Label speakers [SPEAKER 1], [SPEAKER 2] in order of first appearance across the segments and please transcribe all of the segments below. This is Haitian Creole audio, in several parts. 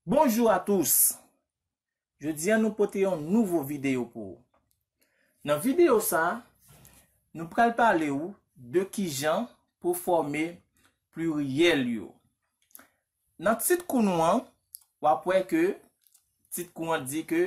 [SPEAKER 1] Bonjou a tous! Jodi an nou pote yon nouvo videyo pou ou. Nan videyo sa, nou pral pale ou de kijan pou fòme pliryèl yo. Nan tit kou nou an, wap wè ke tit kou an di ke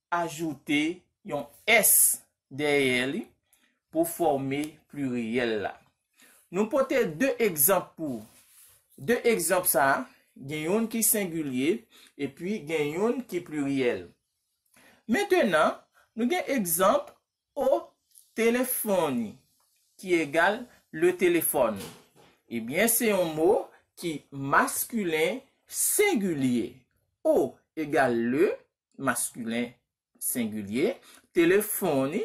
[SPEAKER 1] ajoute yon s dèyè li pou fòme pliriyèl la. Nou pote de egzanp pou ou. De egzanp sa a, gen youn ki sengilye epi gen youn ki pliriyèl. Mentenan, nou gen egzanp O telefoni, ki egal le téléphone, ebyen se yon mo ki maskilen sengilye. O egal le, maskilen sengilye, telefoni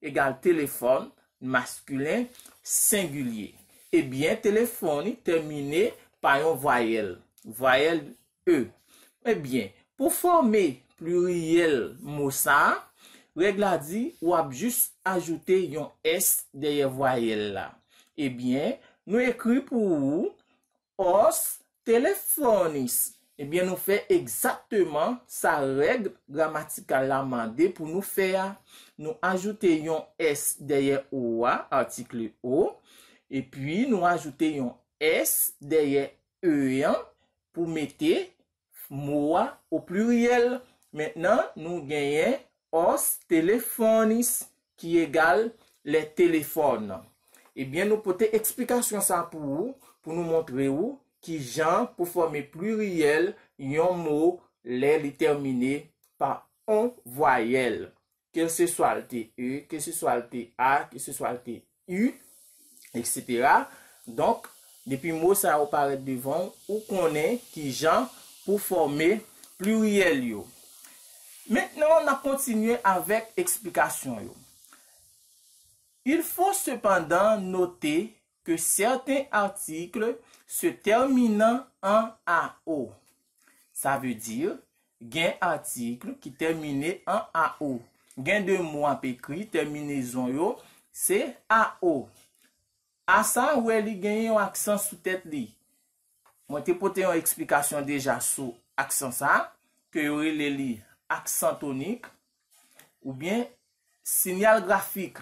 [SPEAKER 1] egal telefòn, maskilen sengilye. Ebyen telefoni tèmine pa yon vwayèl. Vwayèl e. Ebyen, pou fòme pliryèl mo sa a, règ la di w ap jis ajoute yon s dèyè vwayèl la. Ebyen, nou ekri pou ou, os telephones. Ebyen, nou fè egzakteman sa règ gramatikal la mande pou nou fè a. Nou ajoute yon s dèyè o a, atikle o, epi nou ajoute yon s dèyè e an, pou mete mo a o pliryèl. Mentnan nou genyen os telephones ki egal lè telefòn. Ebyen nou pote eksplikasyon sa pou ou pou nou montre ou ki jan pou fòme pliryèl yon mo lè li tèmine pa on vwayèl. keseswa l te e, keseswa l te a, keseswa l te u, eksetera. Donk, depi mo sa yo parèt devan w, ou konnen ki jan pou fòme pliryèl yo. Mentnan, n ap kontinye avèk eksplikasyon yo. Il faut cependant noter que certains articles se terminant en ao. Sa vle di, gen atikl ki tèmine an ao. Gen de mo w ap ekri, tèminezon yo se ao. A sa ou wè li genyen yon aksan sou tèt li. Mwen te pote yon eksplikasyon deja sou aksan sa a, ke yo rele li aksan tonik, oubyen sinyal grafik.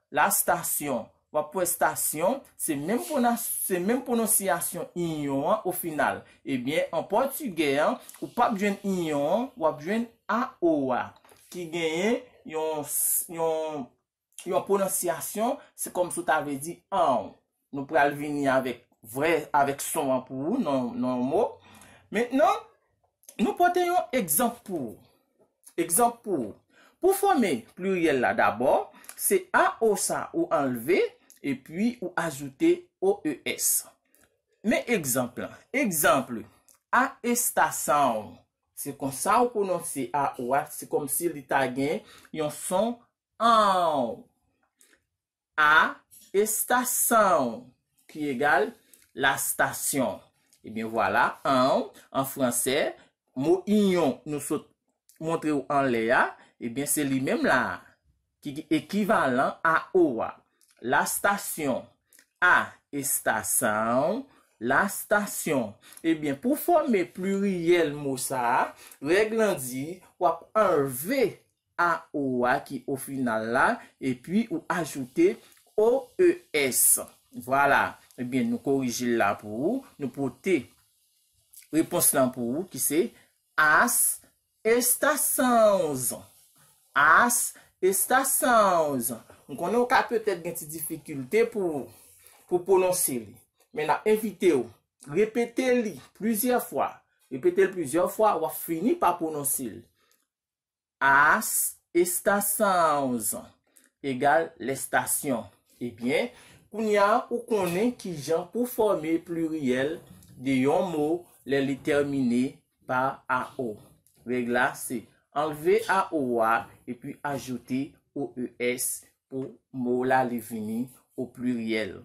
[SPEAKER 1] La stasyon, W ap wè stasyon, se menm pwona, se menm pwononsiyasyon inyon an o final. Ebyen, an pòtigè an, ou p ap jwenn inyon an, w ap jwenn a o a, ki genyen yon, yon, yon pwononsiyasyon, se kòmsi w ta vle di anw. Nou pral vini avèk vrè, avèk son an pou ou nan yon mo. Mentnan, nou pote yon egzanp pou ou. Egzanp pou ou. Pou fòme pliryèl la dabò, se a o sa ou anlve, epi ou ajoute o e s. Men egzanp lan. Egzanp, A estasaon. Se konsa ou pwononse a o a, se kòmsi li ta gen yon son aon. A, Esta sãon, ki egal, la station. Ebyen vwala, an, an franse, mo inyon nou sot montre ou anlè a, ebyen se li menm la a, ki gen ekivalan a o a. La station. A estação, la station. Ebyen, pou fòme pliryèl mo sa a, règ lan di, w ap anlve a o a ki o final la, epi ou ajoute o e s. Vwala, ebyen nou korije l la pou ou, nou pote repons lan pou ou ki se As estaçãos. As estaçãos. M konnen ou ka petèt gen ti difikilte pou ou pwononse li. Men n ap envite ou repete li plizyè fwa. Repete l plizyè fwa, w ap fini pa pwononse l. As, esta 111, egal lèstasyon. Ebyen, kounye a ou konnen ki jan pou fòme pliryèl de yon mo lè li tèmine pa ao. Règ la se anlve ao a epi ajoute oes pou mo la li vini o pliryèl.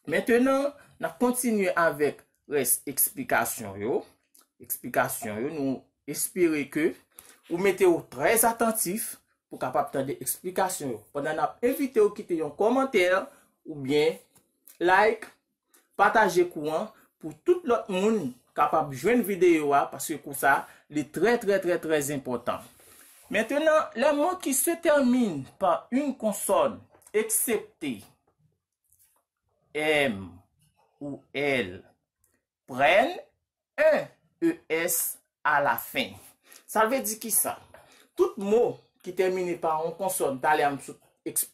[SPEAKER 1] Mentenan, n ap kontinye avèk rès eksplikasyon yo. Eksplikasyon yo, nou espere ke ou mete ou trè atantif pou kapab tande eksplikasyon yo. Pandan n ap envite ou kite yon kòmantè ou byen like, pataje kou an pou tout lòt moun kapab jwenn videyo a paske kou sa li trè trè trè trè enpòtan. Mentenan, lè mo ki se tèmine pa yn konsòn, eksepte. M ou L prenn en es alafen. Sa vle di ki sa? Tout mo ki tèmine pa yon konsòn, talè a m sot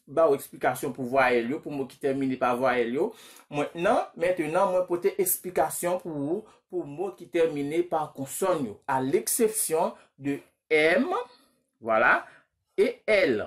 [SPEAKER 1] ba ou eksplikasyon pou vwayèl yo, pou mo ki tèmine pa vwayèl yo, mwen nan, mentenan, mwen pote eksplikasyon pou ou pou mo ki tèmine pa konsòn yo, a leksepsyon de M, vwala, e L.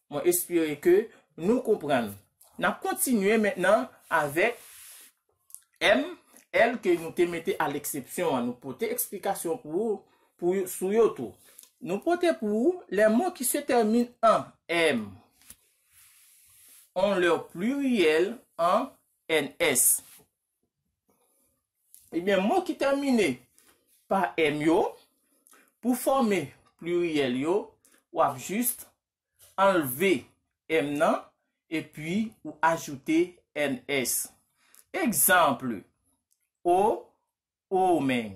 [SPEAKER 1] Mwen espere ke nou konprann. N ap kontinye mentnan avèk M, L ke nou te mete a leksepsyon an. Nou pote eksplikasyon pou ou pou yo sou yo tou. Nou pote pou ou lè mo ki se tèmine an M on lèur pluriyèl an NS. Ebyen mo ki tèmine pa èm yo, pou fòme pliryèl yo, w ap jist anlve èm nan epi ou ajoute ns. Egzanp, O, omen.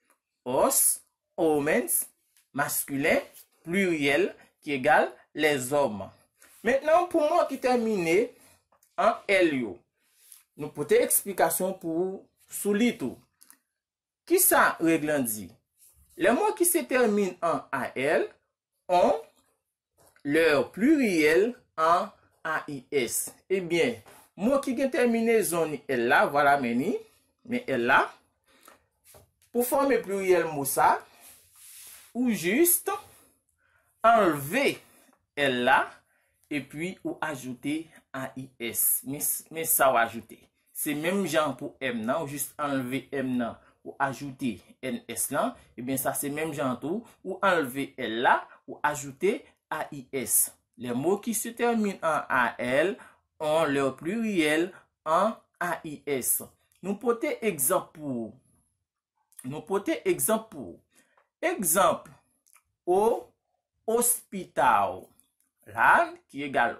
[SPEAKER 1] os, homens, maskilen, pliryèl, ki egal, lèzòm. Mentnan pou mo ki tèmine an èl yo, nou pote eksplikasyon pou ou sou li tou. Ki sa règ lan di? Lè mo ki se tèmine an al, on, leur pluriel an AIS. Ebyen, mo ki gen tèminezon ni el la, vwala men ni, men el la, pou fòme pluriel mo sa, ou jist anlve el la, epi ou ajoute AIS. Men sa ou ajoute. Se menm jan pou m nan, ou jis anlve m nan, ou ajoute ns lan, ebyen sa se menm jan tou, ou anlve l la, ou ajoute ais. Les mots qui se terminent en al ont leur pluriel en ais. Nou pote egzanp pou ou. Nou pote egzanp pou ou. Egzanp, O hospital. La, ki egal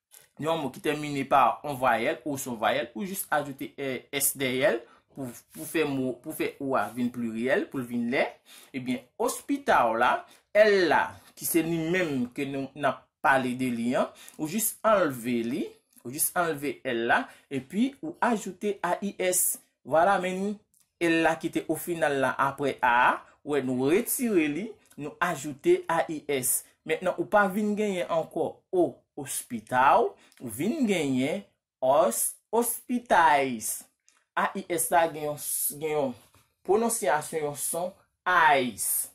[SPEAKER 1] yon mo ki tèmine pa yon vwayèl ou son vwayèl, ou jis ajoute s dèyè l pou fè mo, pou fè ou a vin pliryèl, pou l vin lè, ebyen ospitaw la, l la ki se li menm ke nou n ap pale de li an, ou jis anlve li, ou jis anlve l la, epi ou ajoute AIS, Vwala men nou el la ki te ofinal la apre a a wè nou retire li nou ajoute AIS mentnan ou pa vin genyen ankò o ospitau ou vin genyen os ospitais AIS la gen yon gen yon pwononsyasyon yon son ais.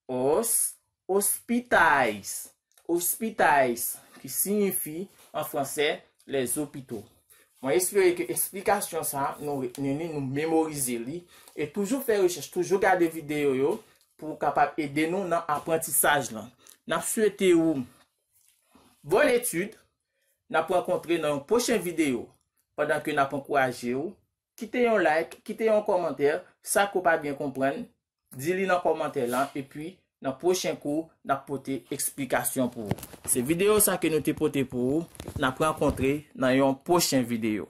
[SPEAKER 1] os, hospitais, ospitais, ki siyifi an fransè les hôpitaux. Mwen espere ke esplikasyon sa nou retni li, nou memorize li, e toujou fè rechèch, toujou gade videyo yo pou ou kapab ede nou nan aprantisaj lan. N ap swete ou bòn etid, n ap rankontre nan yon pwochen videyo, pandan ke n ap ankouraje ou Kite yon like, kite yon kòmantè, sa ke w pa byen konprann, di li nan kòmantè lan, epi nan pwochen kou, n ap pote eksplikasyon pou ou. Se videyo sa ke nou te pote pou ou, n ap rankontre nan yon pwochen videyo.